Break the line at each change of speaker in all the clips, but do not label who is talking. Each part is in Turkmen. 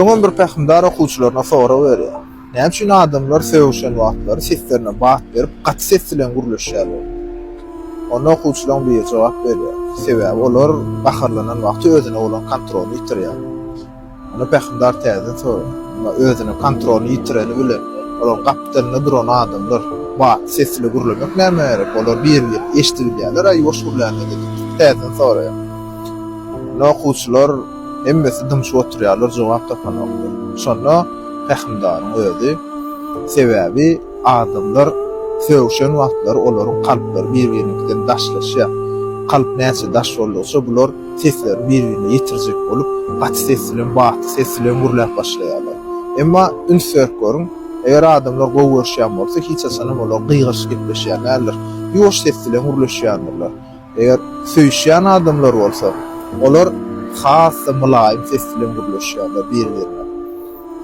Öňem bir pähimdar okuwçylaryna sorag berýär, Näme üçin adamlar sögüşen wagtlary seslerine bat berip, gaty ses bilen gürleşýärler? Onda okuwçylaryň biri jogap berýär, Sebäbi olar gaharlanan wagty özüne bolan kontroly ýitirýär. Onda pähimdar täzeden soraýar, Emma özüne kontroly ýitireni bilen olaryň gapdalynda duran adamlar batly ses ile gürlemek nämä gerek? Olar birigip eşidibilýärler-ä ýuwaş gürlände diýip täzeden soraýar. Onda okuwçylar. Hemmesi dymşyp oturýarlar, jogap tapanoklar. Şonda pähimdaryň özi, Sebäbi adamlar sögşen wagtlary olaryň kalplary bir-biriniňkiden daşlaşýar. Kalp näçe daş boldugyça bular seslerini bir-birine ýetirjek bolup, gaty ses bilen, baty ses bilen gürläp başlaýarlar. Emma üns berip görüň, eger adamlar gowy görüşýän bolsa, hiç haçanam olar gygyryşyp gepleşýän däldir. Ýuwaş ses bilen gürleşýändirler. Eger söýüşýän adamlar bolsa, olar has-da mylaýym ses bilen gürleşýärler bir-birine.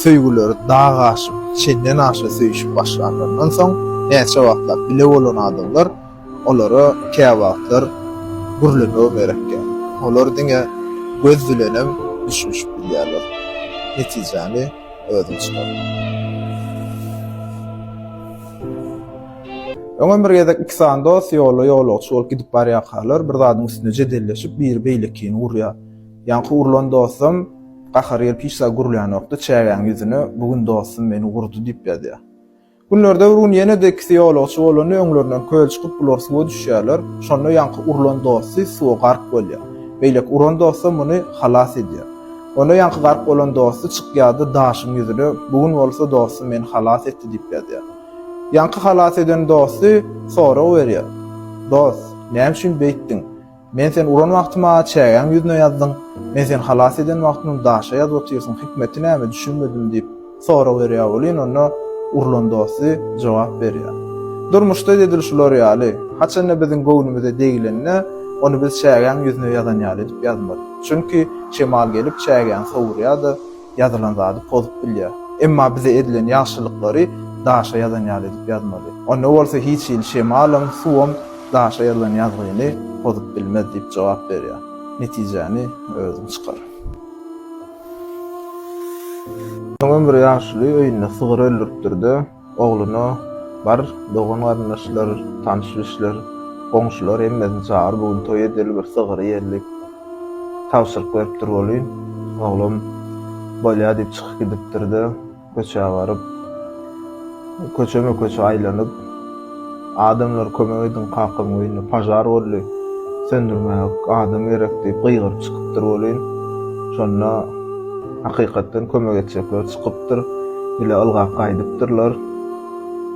Söýgüleri dag aşyp, çenden aşa söýüşip başlanlaryndan soň, näçe wagtlap bile bolan adamlar olara käwagtlar gürlemegem gerekýär. Olar diňe göz bilenem düşünişip bilýärler. Netijäni özüň çykar. Öňem bir gezek iki sany dost ýolda ýolagçy bolup gidip barýarkalar, bir zadyň üstünde jedelleşip, biri beýlekini urýar. Ýaňky urlan dostam gahary gelip hiç zat gürlänokdy, çägäň ýüzüne Bu gün dostum meni urdy diýip ýazýar. Günlerde bir gün ýene-de ikisi ýolagçy bolanda öňlerinden köl çykyp, bular suwa düşýärler. Şonda ýaňky urlan dosty suwa gark bolýar. Beýleki uran dostam muny halas edýär. Onda ýaňky gark bolan dosty çykýar-da daşyň ýüzüne Bu gün bolsa dostum meni halas etdi diýip ýazýar. Ýaňky halas eden dosty sorag berýär, Dost, näme üçin beýtdiň? Men seni uran wagty maňa çägäň ýüzüne ýazdyň, men seni halas eden wagtymam daşa ýazyp otyrsyň, hikmeti näme, düşünmedim diýip, sorag berýär welin, onda urlan dosty jogap berýär, Durmuşda edil şular ýaly, haçan-da biziň göwnümize degilende, ony biz çägäň ýüzüne ýazan ýaly edip ýazmaly. Çünki şemal gelip çägäni sowurýar-da, ýazylan zady pozup bilýär. Emma bize edilen ýagşylyklary daşa ýazan ýaly edip ýazmaly. Onda bolsa hiç hili şemalam, suwam daşa ýazylan ýazgyny pozup bilmez diýip jogap berýär. Netijäni özüň çykar. Öňem bir ýaşuly öýünde sygyr öldüripdir-de. Ogluna, Bar, dogan-garyndaşlar, tanyş-bilişler, goňşular hemmesini çagyr, bu gün toý edeli, bir sygyry ýerlik tabşyryp beripdir welin, oglam bolýa diýip çykyp gidipdir-de, köçä baryp, köçeme-köçe aýlanyp, Adamlar kömek ediň kakam öýünde pažar boldy, söndürmäge adam gerek diýip gygyryp çykypdyr welin, şonda hakykatdan kömek etjekler çykypdyr, ile ylgap gaýdypdyrlar.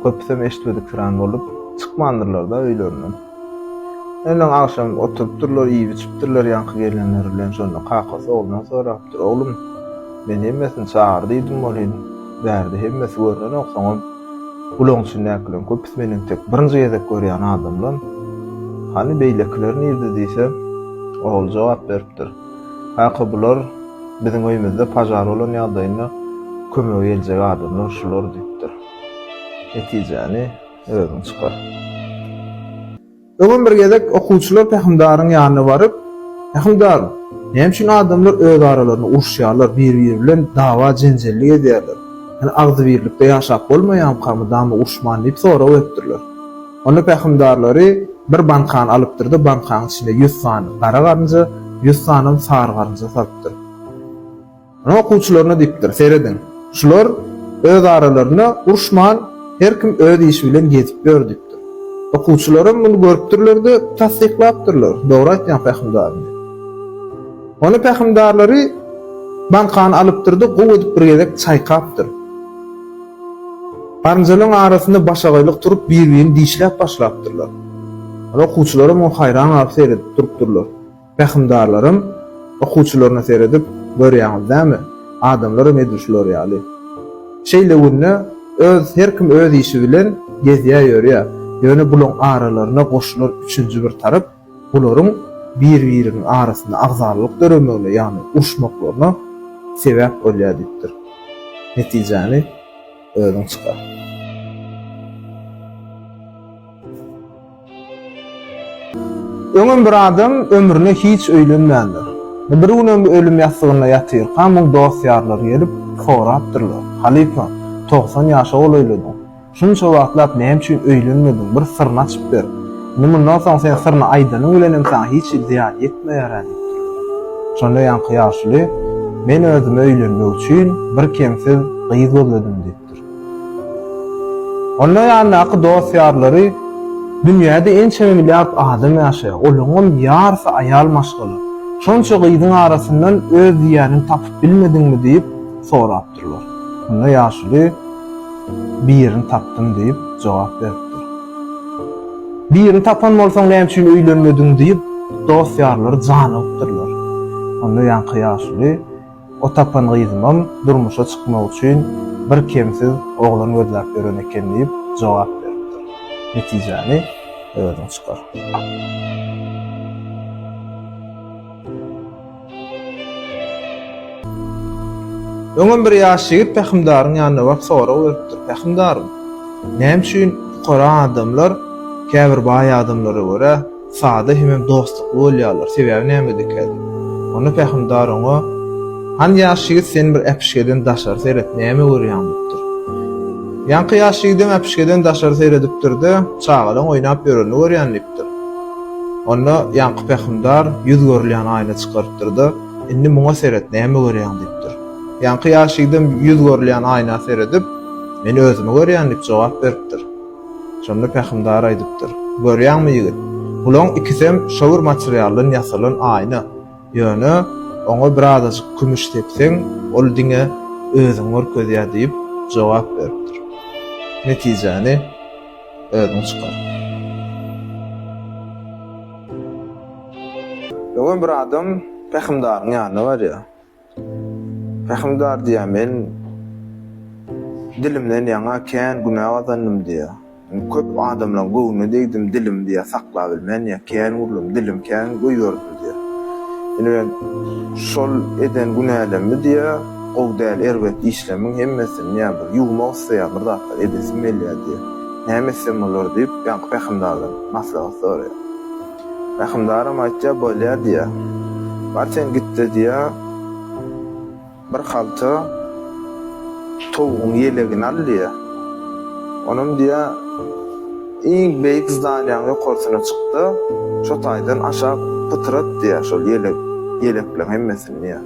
Köpüsem eşitmediksirän bolup, çykmandyrlar-da öýlerinden. Öňňeden agşam oturypdyrlar, iýip-içipdirler ýaňky gelenleri bilen, şonda kakasy oglundan sorapdyr, Oglum, men hemmesini çagyr diýdim welin, bärde hemmesi görnenok, soňam, Ulagyň içindäkileriň köpüsi meniň tek birinji gezek görýän adamlam. Hany beýlekiler nirde diýsem, ogul jogap beripdir. Kaka bular biziň öýümizde pažar bolan ýagdaýynda kömege geljek adamlar şular diýipdir. Netijäni özüň çykar. Öňem bir gezek okuwçylar Pähimdaryň ýanyna baryp, Pähimdar, näme üçin adamlar öz aralarynda uruşýarlar, bir-biri bilen dawa-jenjellik edýärler? Ýöne agzybirlikde ýaşap bolmaýamyka mydama uruşman diýip sorag beripdirler. Onda Pähimdarlary bir bankany alypdyr-da, bankanyň içinde ýüz sany gara garynja, ýüz sanam sary garynja salypdyr. Ine okuwçylaryna diýipdir, serediň. Şular öz aralarynda uruşman, her kim öz işi bilen gezip ýör diýipdir. Okuwçylaram muny görüpdirler-de, tassyklapdyrlar, Dogry aýtýaň pähimdarym diýip. Onda pähimdarlary bankany alypdyr-da, gowy edip bir gezek çaýkapdyr. Garynjalaryň arasynda başagaýlyk turup, bir-birini dişläp başlapdyrlar. Okuwçylaram muňa haýran galyp seredip durupdyrlar. Pähimdarlaram okuwçylaryna seredip, Görýäňiz näme, adamlaram edil şular ýaly. Şeýle günde öz her kim öz işi bilen gezýä-ýörýä, ýöne bulaň aralaryna goşulan üçünji bir tarap, bularyň bir-biriniň arasynda agzarlylyk döremegine, ýagny uruşmaklaryna sebäp bolýa diýipdir. Netijäni özüň çykar. Öňem bir adam ömrüne hiç öýlenmändir. Bir günem ölüm ýassygynda ýatyrka, muň dost-ýarlary gelip, sorapdyrlar, Halypa, togsan ýaşa golaýladyň. Şunça wagtlap näme üçin öýlenmediň, bir syryny açyp ber. Indi mundan soň sen syryny aýdanyň bilenem saňa hiç hili zyýan ýetmeýär-ä diýipdirler. Şonda ýaňky ýaşuly, Men özüme öýlenmek üçin bir kemsiz gyz gözledim diýipdir. ýaşaýardylar. Onuň ýanyndaky dost-ýarlary, Dünýäde ençeme milliard adam ýaşaýar, olaryňam ýarsy aýal maşgala. Şonça gyzyň arasyndan öz diýýäniňi tapyp bilmediňmi diýip sorapdyrlar. Şonda ýaşuly, Birini tapdym diýip jogap beripdir. Birini tapan bolsaň näme üçin öýlenmediň diýip dost-ýarlary janygypdyrlar. Onda ýaňky ýaşuly, O tapan gyzymam durmuşa çykmak üçin birkemsiz oglan gözläp ýören eken diýip jogap beripdir. Netijäni özüň çykar. Öňem bir ýaş ýigit pähimdaryň ýanyna baryp sorag beripdir, Pähimdarym, näme üçin pukara adamlar käbir baý adamlara görä, Sada hemem dostlukly bolýarlar. Sebäbi näme dikädi? Onda pähimdar oňa, Hany ýaş ýigit sen bir äpişgeden daşary seret, näme görýäň diýipdir. Ýaňky ýaş ýigidem äpişgeden daşary seredipdir-de, çagalaň oýnap ýörenini görýän diýipdir. Onda ýaňky pähimdar ýüz görülýän aýna çykarypdyr-da, Indi muňa seret, näme görýäň diýipdir. Ýaňky ýaş ýigidem ýüz görülýän aýna seredip, Men özümi görýän diýip jogap beripdir. Şonda pähimdar aýdypdyr, Görýäňmi, ýigit, bulaň ikisem şo bir materialdan ýasalan aýna. Ýöne oňa bir azajyk kümüş sepseň, ol diňe özüňi görkezýär diýip jogap beripdir. Netijäni özüň çykar. Öňem bir adam pähimdaryň ýanyna barýar. Rahimdar diýýär, Men dilimden ýaňa kän günä gazandym diýýär. Köp adamlaryň göwnüne degdim, dilim diýýär, saklabilmän ýa kän gürledim, dilim kän goýberdim diýýär. Indi men şol eden günälerimi diýýär, gowy däl erbet işlemiň hemmesini diýýär, bir ýuwmak isleýär, bir zatlar edesim gelýär diýýär. Näme etsem bolar diýip, ýaňky rahimdardan maslahat soraýar. Rahymdaram aýtýar, Bolýar diýýär. Bar sen git-de diýýär, bir halta towugyň ýelegini al diýýär. Onam diýýär, iň beýik zdanýaň ýokarsyna çyk-da, şo taýdan aşak pytyrat diýýär şol ýeleg, ýelekleň hemmesini diýýär.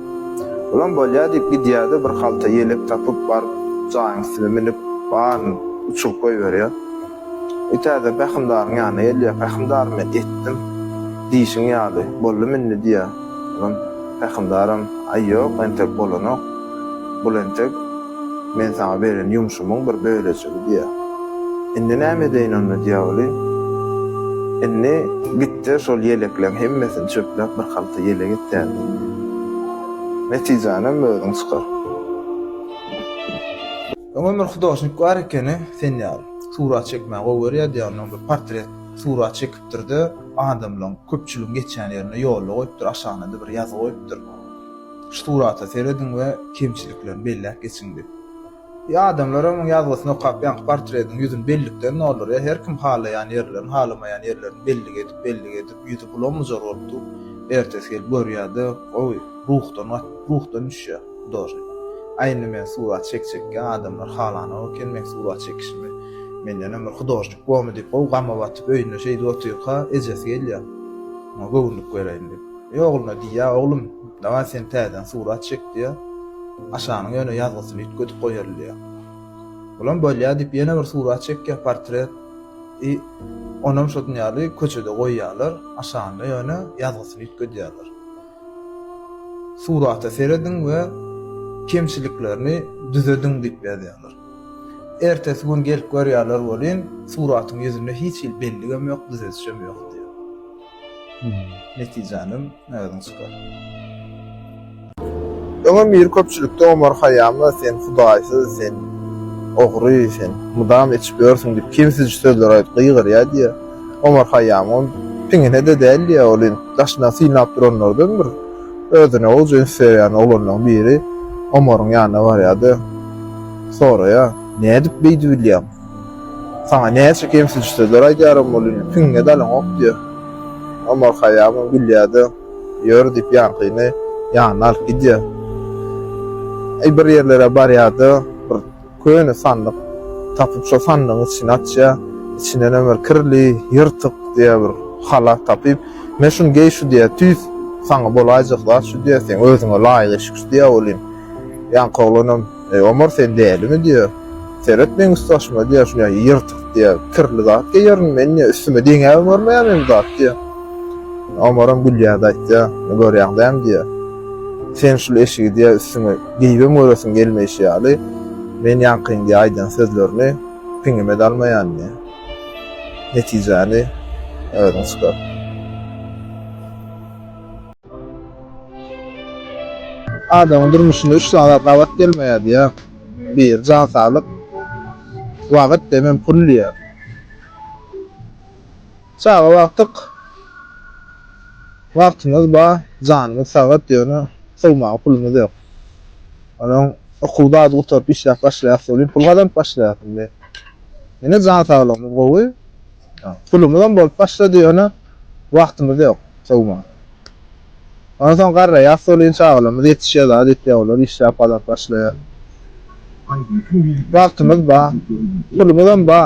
Olam bolýar diýip gidýär-de, bir halta ýelek tapyp baryp jaýyň üstüne münüp, baryny uçuryp goýberýär. Ýa täze pähimdaryň ýanyna gelýär, Pähimdar, men etdim diýşiň ýaly, boldum indi diýýär. Ondan pähimdaram, Aý, ýok, entek bolanok. Bul entek men saňa beren ýumşumyň bir bölejigi diýýär. Indi näme edeýin onda diýýär weli. Indi git-de, şol ýelekleriň hemmesini çöpläp, bir halta ýelek et täze. Netijänem özüň çykar. Öňem bir hudožnik bar ekeni sen ýaly. Surat çekmäni gowy görýärdi ýa ondan bir portret surat çekipdirde adamlaň köpçüligiň geçýän ýerinde ýolda goýupdyr aşagynada bir ýazy goýupdyr şu surata serediň we kemçiliklerini belläp geçiň diýip. Ýa adamlar onuň ýazgysyny okap ýaňky portretiň ýüzüni bellikden doldurýar herkim halaýan ýerlerini halamaýan ýerlerini bellik edip bellik edip ýüzi bulam bujar bolup dur ertesi gelip görýärde gowy ruhdan ruhdan düşýär. Dory. Aý indi men surat çekjekkä adamlar halanok eken meň surat çekişimi. Mendenem bir hudožnik bormy diýip gowy gama batyp öýünde şeýdip otyrka ejesi gelýär. Oňa göwünlik bereýin diýip. Eý ogluna diýýär, oglum dawaý sen täzeden surat çek diýýär. Aşanyň ýöne ýazgysyny üýtgedip goýaly diýýär. Olam bolýa diýip ýene bir surat çekýär portret. I onam şodun ýaly köçede goýýarlar. Aşanda ýöne ýazgysyny üýtgedýärler. Surata serediň we kemçiliklerini düzediň diýip ýazýarlar. Ertesi gün gelip görýärler welin, suratyň ýüzünde hiç hili belligem ýok, düzedişem ýok diýýär. Netijänem özüň çykar. Öňem ýeri köpçülikde Omar Haýýama sen hudaýsyz, sen ogry, sen mydam içip ýörsüň diýip kemsiji sözler aýdyp gygyrýardy ýa. Omar Haýýam. Ol piňine-de däldi, ýa ol daşyndan synlap duranlardan bir özüne gowy jyns berýän oglanlaryň biri Omaryň ýanyna barýar-da, soraýar. Nädip beýdi bilýäň? Saňa näçe kemsiji sözler aýdýaram welin, piňiňe dalaňok, diýýär. Omar Haýýamam gülýär-de, ýör, diýip, ýaňkyny ýanyna alyp gidýär. Aý, bir ýerlere barýar-da, bir. Köne sandyk tapyp şo sandygyň içini açýa, içindenem bir kirli, ýyrtyk diýe bir halat tapyp, Men şuny geý şu diýýä, tüýs saňa bolaýjak zat şu diýýä, seň özüňe laýyk eşik şu diýýä welin, ýaňky oglanam, Eý Omar sen dälimi diýýä, seret meň üst başyma diýýä, şuny ýa ýyrtyk diýýä, kirli zat geýerin, men diýýä üstüme deňäbem görmeýän men bu zat diýýä. Omaram gülýärdi aýtýa, Görýäň dämi diýýä, sen şul eşigi diýýä üstüňe, Diýibem göresim gelmeýşi ýaly, men ýaňkyň diýe aýdan sözlerini piňime-de almaýandy. Netijäni özüň çykar. Adamyň durmuşynda üç zat gabat gelmeýär diýýär. Bir, jan saglyk, wagt, demem pul diýýär. Çaga bakdyk wagtymyz bar janymyz sagat ýöne sowmaga pulumyz ýok. Onuň okuw zady gutaryp işläp başlaýas welin pul gazanyp başlaýas indi. Ýene jan saglygymyz gowy. Pulumyzam bolup başlady ýöne wagtymyz ýok sowmaga. Onsoň garraýas welin çagalarymyz ýetişýä zat etýä olar işläp gazanyp başlaýa. Wagtymyz ba, pulumyzam ba,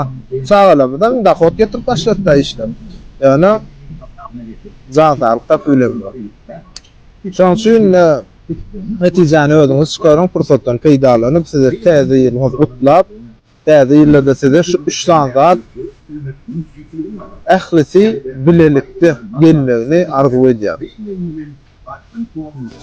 çagalarymyzam dohod getirip başladyda işläp. Ýöne jan saglyk tapy bilemok. Şoň üçin de netijäni özüňiz çykaryň pursatdan peýdalanyp sizi täze ýylyňyz gutlap. Täze ýylda-da size şu üç sany zat ählisi bilelikde gelmegini arzuw edýärin.